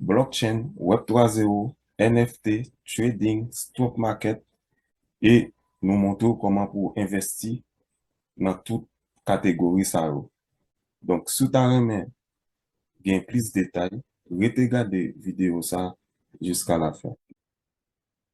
Blockchain, Web 3 zero, NFT, Trading, Stock Market e nou montre w kòman pou w envèsti nan tout kategori sa yo. Donk si w ta renmen gen plis detay, rete gade videyo sa jiska lafen.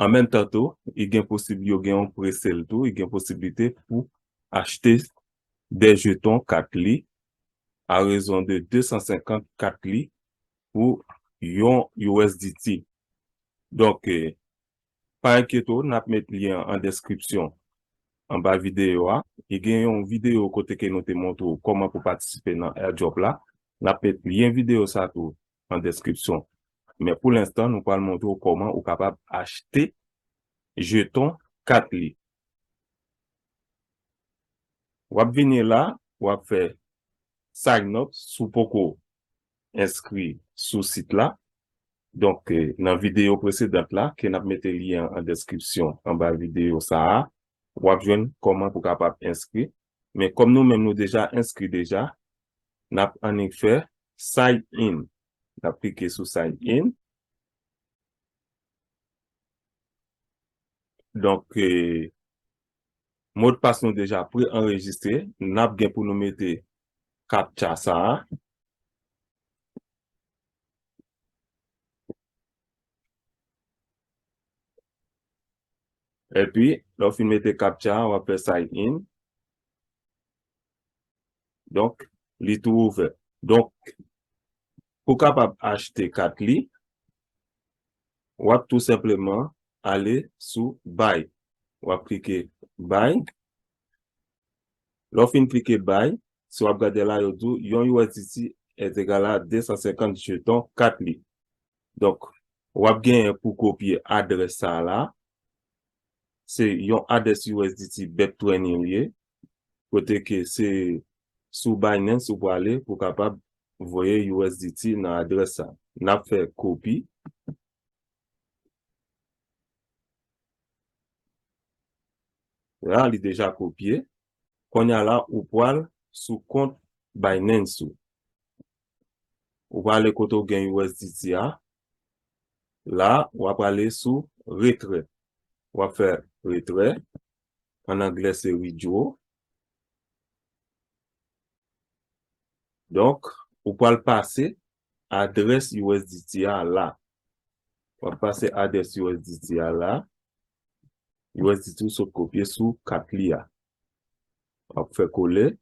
An menm tan tou, i gen posib yo gen yon pre-sale tou, i gen posiblite pou achte 2 jeton kat li a rezon de 250 kat li pou yon usdt. Donk, pa enkyete w, n ap met lyen an an deskripsyon anba videyo a. I gen yon videyo kote ke nou te montre w kòman pou patisipe nan Airdrop la. N ap met lyen videyo sa tou nan deskripsyon. Men pou lenstan nou pral montre w kòman ou kapab achte jeton kat li. Wap vini la, wap fè sign up si w poko enskri sou sit la. Donk nan videyo presedant la ke nap mete lyen an deskripsyon anba videyo sa a, wap jwenn kòman pou kapab enskri Men kòm nou menm nou deja enskri deja, nap annik fè sign in. Nap klike sou sign in. Donk modpas nou deja pre anrejistre, nap gen pou nou mete captcha sa a. Epi, lè w fin mete captcha a, w ap fè sign in. Donk, li tou ouvè. Donk, pou w kapab achte kat li, w ap tou senpleman ale sou buy. W ap klike buy. Lè w fin klike buy, si w ap gade la, yo di w yon usdt est égal à 250 jetons kat li. Donk, w ap genyen pou kopye adrès sa a la. Se yon adrès usdt Beptwen yo ye. Kote ke se sou Binance ou prale pou kapab voye usdt nan adrès sa a. N ap fè kopi. La, li deja kopye. Kounye a la, ou pral sou kont Binance ou. Ou prale kote ou gen usdt a. La ou ap prale sou retrè. Ou ap fè retrè. An anglè se withdraw. Donk ou pral pase adrès usdt a la. Ou ap pase adrès usdt a la. Usdt ou sot kopye sou kat li a. Ou ap fè kole.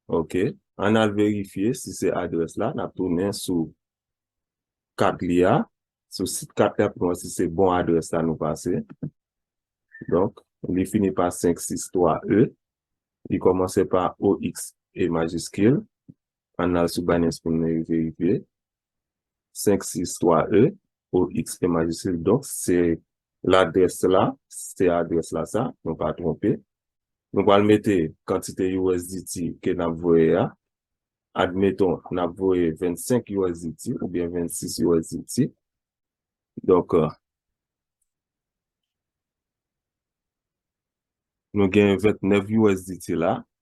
Ok, an n al verifye si se adrès la, n ap tounen sou kat li a, sou sit kat la pou nou wè si se bon adrès la nou pase. Donk, li fini pa 563 E, li kòmanse pa OXE majiskil, An n al sou bannè Spin nan e verifye. 5, 6, 3, E, O, X, E majiskil. Donk, se ladrès la, se adrès la sa, nou pa twonpe. Nou pral mete kantite usdt ke n ap voye a. Admeton, n ap voye 25 usdt oubyen 26 usdt. Donk, nou gen 29 usdt la.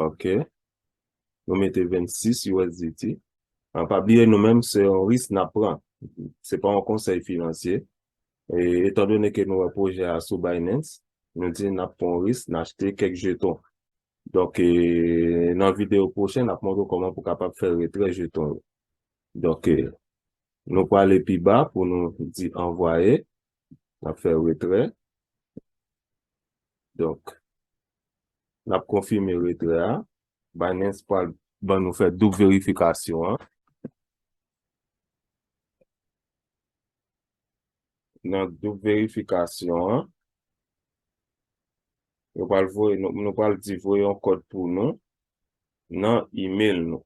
Ok. Nou mete 26 USDT. An pa bliye nou menm se yon risk na pran. Se pa yon konsèy finansye. E etan donen ke nou wè pwojè a sou Binance, nou di na pran yon risk, na achte kèk jeton. Donk e nan videyo pwochen na montre w kòman pou kapab fè retrè jeton yo. Donk e nou prale pi ba pou nou di anvwaye. Nap fè retrè. Donk, nap konfime retrè a. Binance pral ban nou fè doub verifikasyon an. Nan doub verifikasyon an, yo pral voye nou, nou pral di voye yon kòd pou nou nan email nou.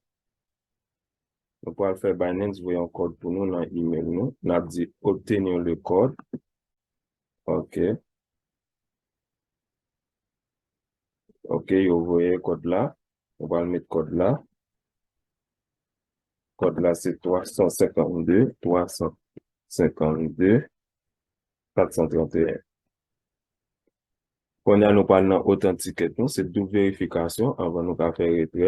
Nou pral fè Binance voye yon kòd pou nou nan email nou. Nap di obtenir le code. Ok. Ok, yo voye kòd la. Nou pral met kòd la. Kòd la se 352, 352, 431. Konya nou pral nan authenticate nou. Se double verifikasyon anvan nou ka fè retrè.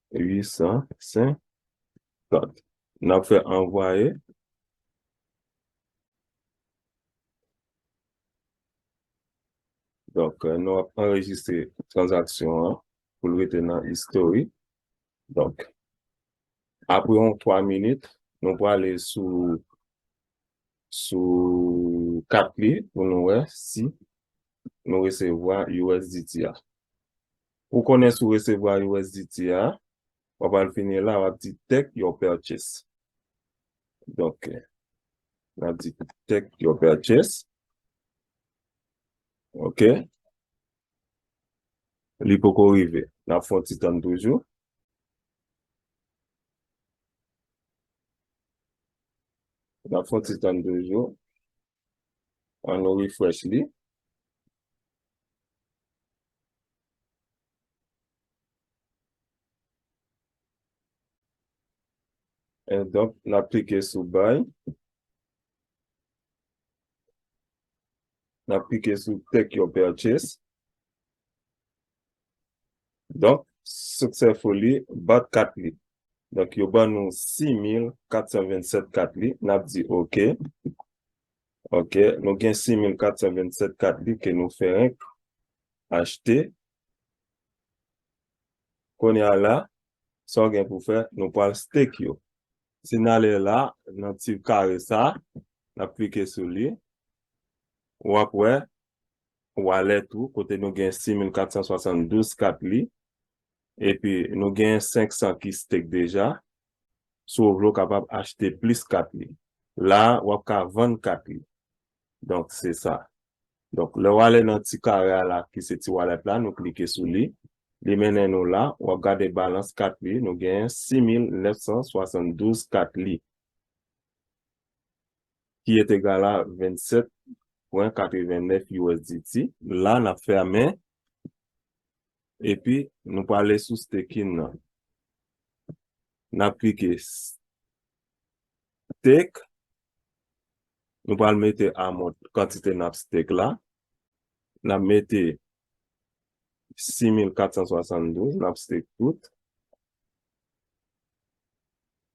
850. N ap fè anvwaye. Donk, nou ap anrejistre tranzaksyon an pou l rete nan istori. Donk, apre yon 3 minit, nou prale sou sou kat li pou nou wè si nou resevwa usdt a. Pou konnen si w resevwa usdt a, w ap al fini la, w ap di take your purchase. Donk, n ap di take your purchase. Ok. Li poko rive. N ap fè yon ti tann toujou. N ap fè yon ti tann toujou. An nou refresh li. En donk nap klike sou bay. Nap klike sou take your purchase. Donk, siksè fou li bat kat li. Donk, yo ban nou 6427 kat li. N ap di ok. Ok, nou gen 6427 kat li ke nou fèk achte. Kounye a la, sa w gen pou fè, nou pral stake yo. Si n ale la, nan ti kare sa, n ap klike sou li, w ap wè wallet ou kote nou gen 6472 kat li epi nou gen 500 ki stake deja si ou vle ou kapab achte plis kat li la wap ka vann kat li donk se sa donk lè wale nan ti kare a la ki se ti wallet la nou klike sou li li mennen nou la wap gade balans kat li nou gen 6972 kat li. ki entegal a 27.89 usdt. La nap fèmen epi nou prale sou staking nan. Nap klike stake. Nou pral mete amount kantite nap stake la. Nap mete 6472 nap stake tout.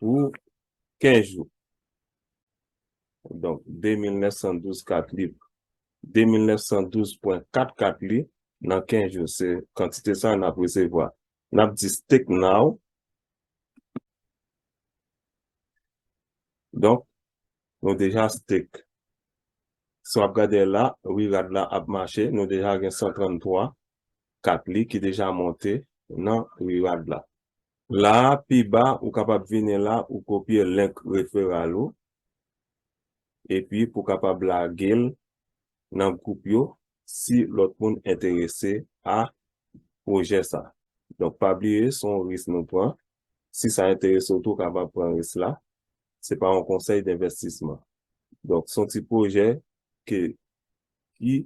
pou 15 jou. Donk, 2912 kat li, 2912.4 kat li, nan 15 jou, se kantite sa a n ap resevwa. N ap di stake now. Donk, nou deja stake. Si w ap gade la, wi rad la ap mache, nou deja gen 133 kat li ki deja monte nan wi rad la. La a, pi ba, ou kapab vini la, ou kopye link referral ou, epi pou kapab lage l nan gwoup yo si lòt moun enterese a pwojè sa. Donk pa bliye se yon risk nou pran, si sa enterese w tou ou kapab pran risk la, se pa yon konsèy denvestisman. Donk se yon ti pwojè ke ki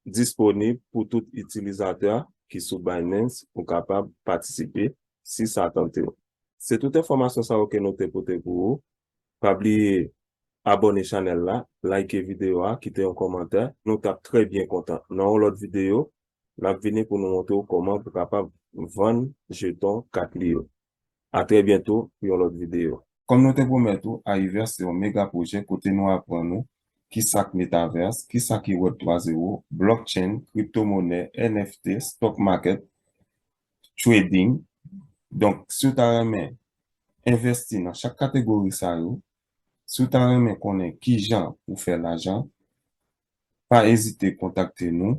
disponib pou tout itilizatè ki sou Binance pou kapab patisipe si sa tante w. Se tout enfòmasyon sa yo ke nou te pote pou ou. Pa bliye abòne chanèl la, like videyo a, kite yon kòmantè. Nou tap trè byen kontan. Nan yon lòt videyo, nap vini pou nou montre w kòman pou kapab vann jeton kat li yo. A trè byento pou yon lòt video. Kòm nou te pwomèt ou, Ahiverse se yon mega pwojè kote nou aprann ou ki sa k Metaverse, ki sa ki Web 3 Zero, Blockchain, Crypto monè, NFT, Stock Market, Trading. Donk, si w ta renmen envèsti nan chak kategori sa yo, si w ta renmen konnen kijan pou fè lajan, pa ezite kontakte nou.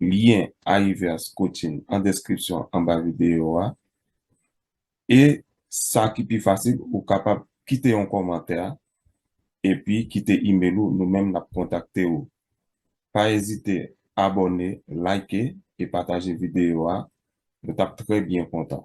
lyen Ayiveas Coaching an deskripsyon anba videyo a. E sa ki pi fasil ou kapab kite yon kòmantè epi kite email ou nou menm nap kontakte ou. Pa ezite abòne, like e pataje videyo a, nou tap trè byen kontan.